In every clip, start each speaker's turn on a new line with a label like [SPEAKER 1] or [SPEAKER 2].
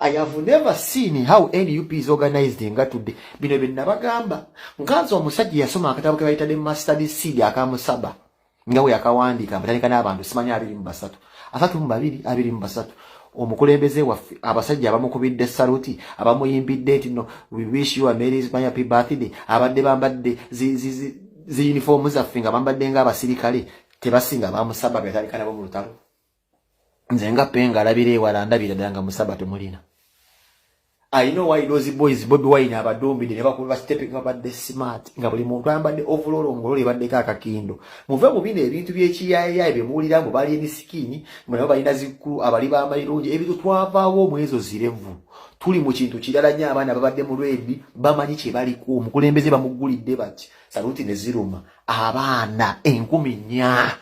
[SPEAKER 1] I have never seen how NUP is organized nga today. Bino bye nabagamba. Nkanze omusajja yasoma akatabo ke bayita The Mustard Seed akamusaba. Nga we akawandiika abatandika n'abantu simanya abiri mu basatu. Asatu mu babiri abiri mu basatu. Omukulembeze waffe abasajja abamukubidde saluti abamuyimbidde nti no we wish you a merry happy birthday abadde bambadde zi zi zi, zi uniform zaffe nga bambadde nga abasirikale tebasinga bamusaba byatandika nabo mu lutalo. nze nga penga alabira ewala ndabira ddala nga musaba temulina i know why those boys bobi wine abadumbide ne bakuba basitepe nga badde smart nga buli muntu ayambadde ovulolo ngololo ebaddeko akakindo muve mu bino ebintu by'ekiyayayaye bye muwulira mbu bali emisikini mbu nabo balina zikkulu abali b'amalirungi ebintu twavaawo mu ezo zirevu tuli mu kintu kirala nnyo abaana babadde mu lwedi bamanyi kye baliko omukulembeze bamuggulidde bati saluti ne ziruma abaana enkumi nnya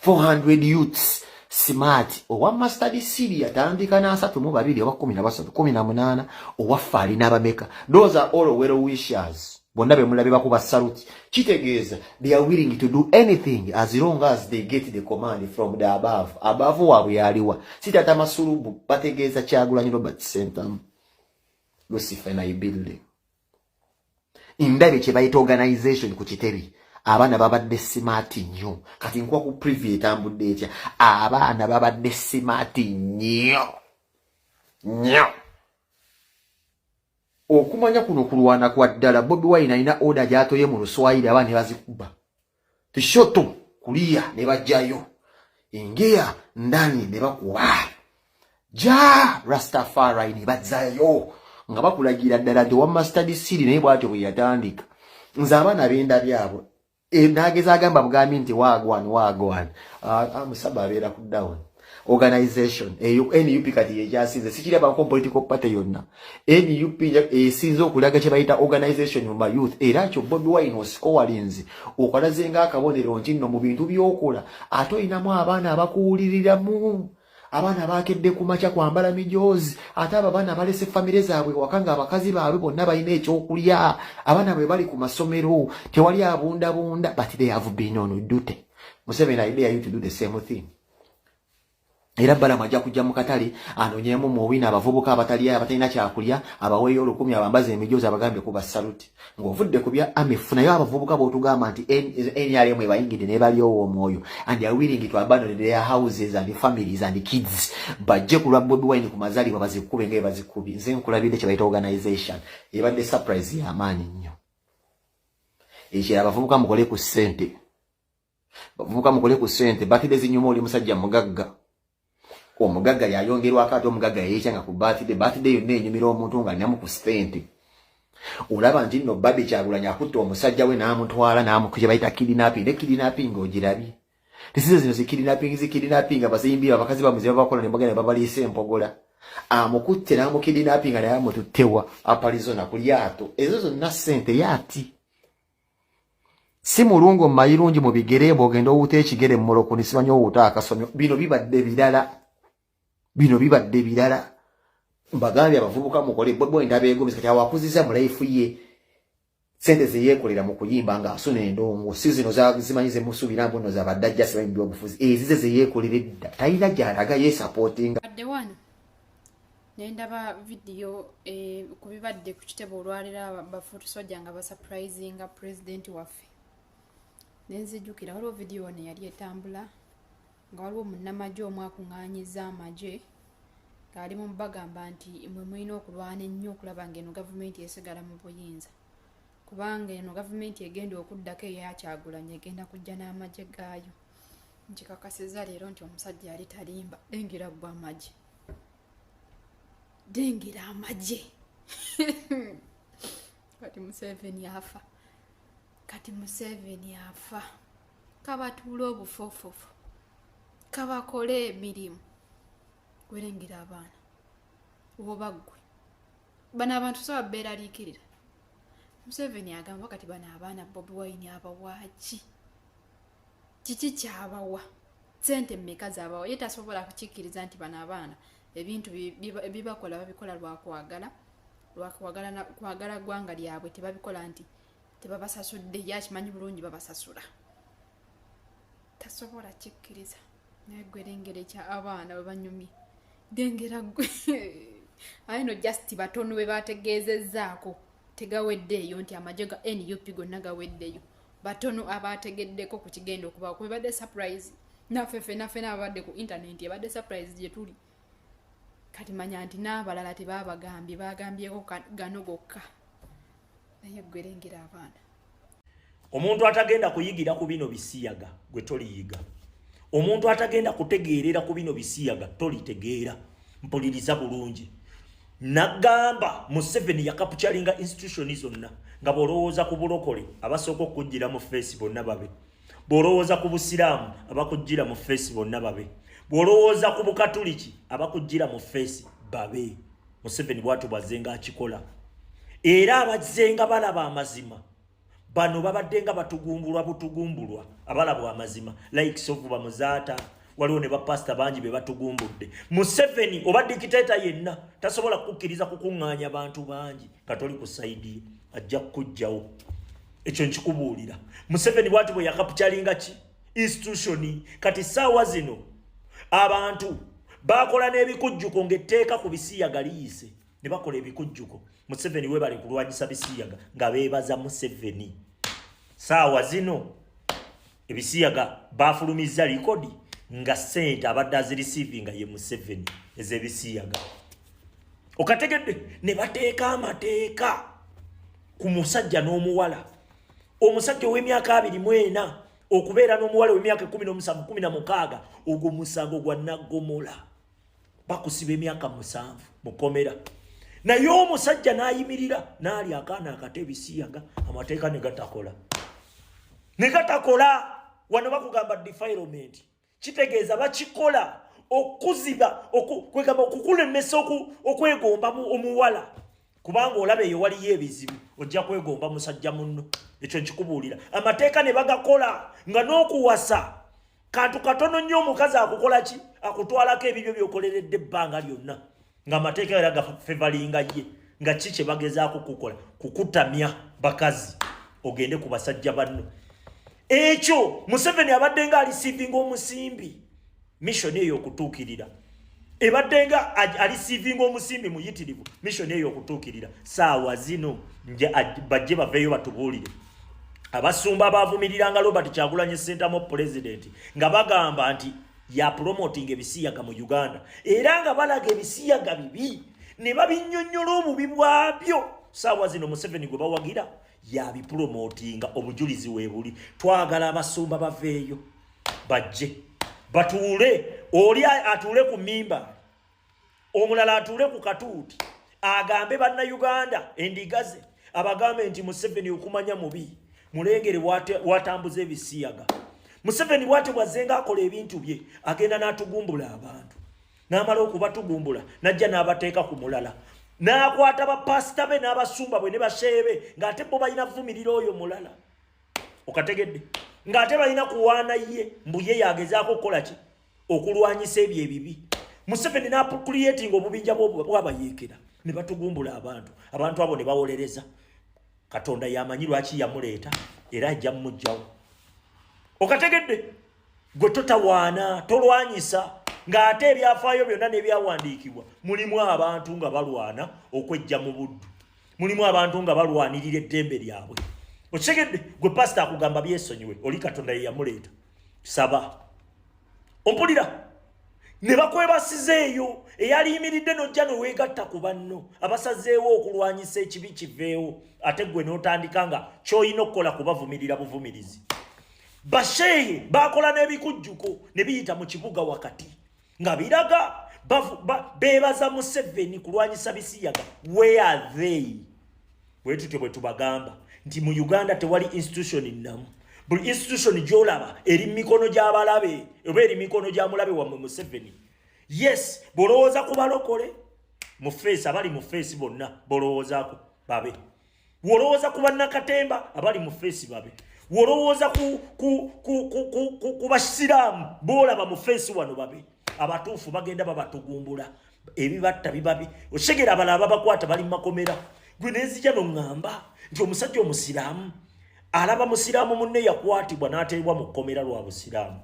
[SPEAKER 1] 400 youths smart owa master disili atandika na asatu mu babiri oba kumi na basatu kumi na munana owa fali na bameka those are all well wishers bonna be mulabe bakuba saluti kitegeeza they are willing to do anything as long as they get the command from the above above waabwe yaliwa si tata masulubu bategeeza kyagulanyi robert sentamu lucifer na ibilde ndabye kye bayita organization ku kitebi abaana babadde simaati nnyo kati nkuwa ku privy etambudde etya abaana babadde simaati nnyo nnyo okumanya kuno kulwana kwa ddala bobi wine alina oda gyatoye mu luswayiri abaana ne bazikuba tushoto kuliya ne bajjayo engeya ndani ne bakuba ja rastafari ne bazayo nga bakulagira ddala nti wamma study city naye bwatyo bwe yatandika nze abaana benda byabwe e, nageza agamba bugambi nti wagwan wagwan ah, ah, musaba abeera ku down organization eyo nup kati yekyasinze sikirabako political party yonna nup esinze okulaga kyebayita organization mu mayouth era kyo bobi wine osikowalinzi okalaze nga akabonero nti nno mu bintu byokola ate olinamu abaana abakuwuliriramu abaana bakedde ku makya kwambala mijoozi ate abo abaana balese famire zaabwe waka nga abakazi baabwe bonna balina ekyokulya abaana bwe bali ku masomero tewali abundabunda but they have been on dute museveni idea you to do the same thing era balamu ajja kujja mu katale anonyemu muwina abavubuka abataliyo abatalina kyakulya abaweeyo olukumi abambaza emijoozi abagambye kuba saluti ng'ovudde ku bya amifu naye abavubuka b'otugamba nti nrm ebayingidde naye balyowo omwoyo and awiringi to abandon their houses and families and kids bajje ku lwa bobi wine ku mazalibwa bazikube nga ebazikubi nze nkulabidde kyebayita organization ebadde surprise y'amaanyi nnyo ekyo abavubuka mukole ku ssente bavubuka mukole ku sente batide zinyuma oli musajja mugagga omugagga yayongerwako ate omugagga yeyekyanga ku batide batide yonna enyumira omuntu nga alinamu ku sente olaba nti nno babi kyagulanya akutta omusajja we n'amutwala n'amukuyebayita kidinapi ne kidinapi nga ogirabye tisize zino zikidinapingi zikidinapi nga bazimbi abakazi bamuziba bakola ne bagenda babaliisa empogola amukutte n'amukidinapi nga naye amututtewa apalizona ku lyato ezo zonna sente yaati si mulungo mayirungi mu bigere mbu ogenda owuta ekigere mumolokoni simanyi owuta akasomyo bino bibadde birala bino bibadde birala mbagambye abavubuka mukole bwebwe endaba egomesa kati awakuziza mu laifu ye sente zeyekolera mu kuyimba nga asuna endongo si zino zimanyi zemusuubira mbu no zabadde ajja simanyi byobufuzi ezize zeyekolera edda talina gyalaga yesapotinga naye
[SPEAKER 2] ndaba vidiyo eh, ku bibadde ku kitebe olwaliro bafutusoja nga basapulizinga pulezidenti waffe nenzijukira waliwo vidiyo wano eyali etambula nga waliwo munnamagye omu akuŋŋaanyiza amagye ng'ali mu bagamba nti mwe mulina okulwana ennyo okulaba ng'eno gavumenti esigala mu buyinza kubanga eno gavumenti egenda okuddako eyakyagulanyi egenda kujja n'amagye gaayo nkikakasiza leero nti omusajja yali talimba lengera gwa amagye dengera amagye kati museveni afa kati museveni afa kabatuula obufofofu kabakole emirimu werengera abaana oba ggwe bano abantu saba beeraliikirira museveni agamba kati bano abaana bobi wayini abawaaki kiki kyabawa sente mumeka zabawa ye tasobola kukikkiriza nti bano abaana ebintu bibakola babikola lwakwagala lwakwagala gwanga lyabwe tebabikola nti tebabasasudde ye akimanyi bulungi babasasula tasobola kikkiriza naye gwe lengera ekya abaana bwe banyumye dengera gwe aye no just batono bwe bategeezezzaako tegaweddeeyo nti amagye ga nup gonna gaweddeyo batono abaategeddeko ku kigenda okubawo kuba ebadde surprise naffe fena fena ababadde ku internet ebadde surprise gye tuli kati manya nti n'abalala tebaabagambye baagambyeko gano gokka naye gwerengera abaana omuntu
[SPEAKER 3] atagenda kuyigira ku bino bisiyaga gwe toliyiga omuntu atagenda kutegeerera ku bino bisiyaga tolitegeera mpuliriza bulungi nagamba museveni yakapucalinga institution zonna nga bwolowooza ku bulokole abasooka okukujjira mu feesi bonna babe bwolowooza ku busiraamu abakujjira mu feesi bonna babe bwolowooza ku bukatuliki abakujjira mu feesi babe museveni bwatyo bwazzenga akikola era abazzenga balaba amazima bano babadde nga batugumbulwa butugumbulwa abalabwa amazima like sovu bamuzaata waliwo ne bapasita bangi be batugumbudde museveni oba dikiteeta yenna tasobola kukukkiriza kukuŋŋaanya bantu bangi katoli ku saidi ye ajja kukugjawo ekyo nkikubuulira museveni bwati bwe yakapukyalinga ki institutioni kati saawa zino abantu bakola n'ebikujjuko ng'etteeka ku bisiyaga liyise ne bakola ebikujjuko museveni webale kulwanyisa bisiyaga nga beebaza museveni saawa zino ebisiyaga bafulumizza likodi nga sente abadde azirisiivinga ye museveni ezebisiyaga okategedde ne bateeka amateeka ku musajja n'omuwala omusajja ow'emyaka abiri mu ena okubeera n'omuwala ow'emyaka ekumi n'omusanvu kumi na mukaaga ogwo musango gwa naggomola bakusiba emyaka musanvu mukomera naye omusajja nayimirira nali akaana akata ebisiya nga amateeka negatakola negatakola wano bakugamba defilement kitegeeza bakikola okuziba kwegamba okukulemesa okwegomba omuwala kubanga olaba eyo waliyo ebizibu ojja kwegomba musajja munno ekyo nkikubuulira amateeka ne bagakola nga n'okuwasa kantu katono nnyo omukazi akukola ki akutwalako ebibyo byokoleredde ebbanga lyonna ng'amateeka era gafevalinga ye nga ki kye bagezaako kukola kukutamya bakazi ogende ku basajja banno ekyo museveni abadde nga alisiivinga omusimbi Mission eyo okutuukirira ebadde nga alisiivinga omusimbi muyitirivu mission eyo okutuukirira saawa zino bajje baveeyo batubuulire abasumba abaavumiriranga robert kyagulanyi sentamu pulezidenti nga bagamba nti yapulomotinga ebisiyaga mu uganda era nga balaga ebisiyaga bibi ne babinyonyola obubi bwabyo saawa zino museveni gwe bawagira yabipulomotinga obujulizi weebuli twagala abasumba baveeyo bajje batuule oli atuule ku mimba omulala atuule ku katuuti agambe banna uganda endigaze abagambe nti museveni okumanya mubi mulengere watambuza ebisiyaga museveni bwatyo bwazenga akola ebintu bye agenda n'atugumbula abantu n'amala okubatugumbula najja n'abateeka ku mulala n'akwata bapasita be n'abasumba bwe ne basheebe ng'ate bo balina vumirira oyo mulala okategedde ng'ate balina kuwaana ye mbu ye yagezaako okukola ki okulwanyisa ebyo ebibi museveni nakuliyetinga obubinja bwabayeekera ne batugumbula abantu abantu abo ne bawolereza katonda yamanyi lwaki yamuleeta era ajja mumugjawo okategedde gwe totawaana tolwanyisa ng'ate ebyafaayo byonna n'ebyawandiikibwa mulimu abantu nga balwana okwejja mu buddu mulimu abantu nga balwanirira eddembe lyabwe okitegedde gwe pasita akugamba byesonyiwe oli katonda yeyamuleeta saba ompulira ne bakwebasiza eyo eyaliyimiridde nojja neweegatta ku banno abasazeewo okulwanyisa ekibi kiveewo ate gwe n'otandika nga kyolina okukola kubavumirira buvumirizi basheehe bakola n'ebikujjuko ne biyita mu kibuga wakati nga biraga beebaza museveni kulwanyisa bisiyaga where are they bwe tutyo bwe tubagamba nti mu uganda tewali institution nnamu buli institution gyolaba eri mumikono gy'abalabe oba eri mikono gya mulabe wammwe museveni yes bwolowooza ku balokole mu feesi abali mu feesi bonna bolowoozaako babe Wolowooza ku bannakatemba abali mu feesi babe. Wolowooza ku, ku, ku, ku, ku, ku, ku basiraamu boolaba mu feesi wano babe. Abatuufu bagenda babatugumbula ebibatta bibabi okitegera abala ababakwata bali mumakomera gwe nenzija noŋŋamba nti omusajja omusiraamu alaba musiraamu munne yakwatibwa n'ateebwa mu kkomera lwa busiraamu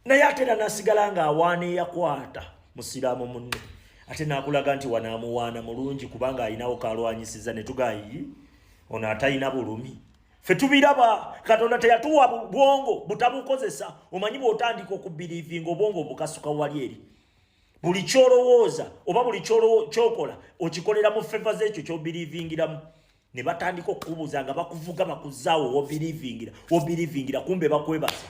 [SPEAKER 3] naye ate era nasigala nga awaana eyakwata musiraamu munne ate nakulaga nti wanaamuwaana mulungi kubanga alinawo kalwanyisiza ne tugayi ono atalina bulumi fe tubiraba katonda teyatuwa bwongo butabukozesa omanyi bwotandika okubirivinga obwongo obukasuka wali eri buli kyolowooza oba buli kyokola okikolera mu feva zekyo kyobirivingiramu ne batandika okukubuuza nga bakuvuga bakuzaawo wobirivingira wobirivingira kumbe bakwebaza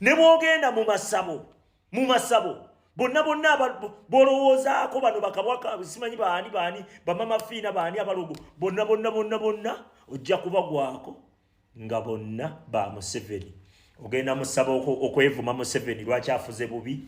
[SPEAKER 3] ne bwogenda mu masabo mu masabo bonna bonna bolowoozaako bano bakabwaka simanyi baani baani bamama fiina baani abalogo bonna bonna bonna bonna ojja kubagwako nga bonna ba museveni ogenda musaba okwevuma museveni lwaki afuze bubi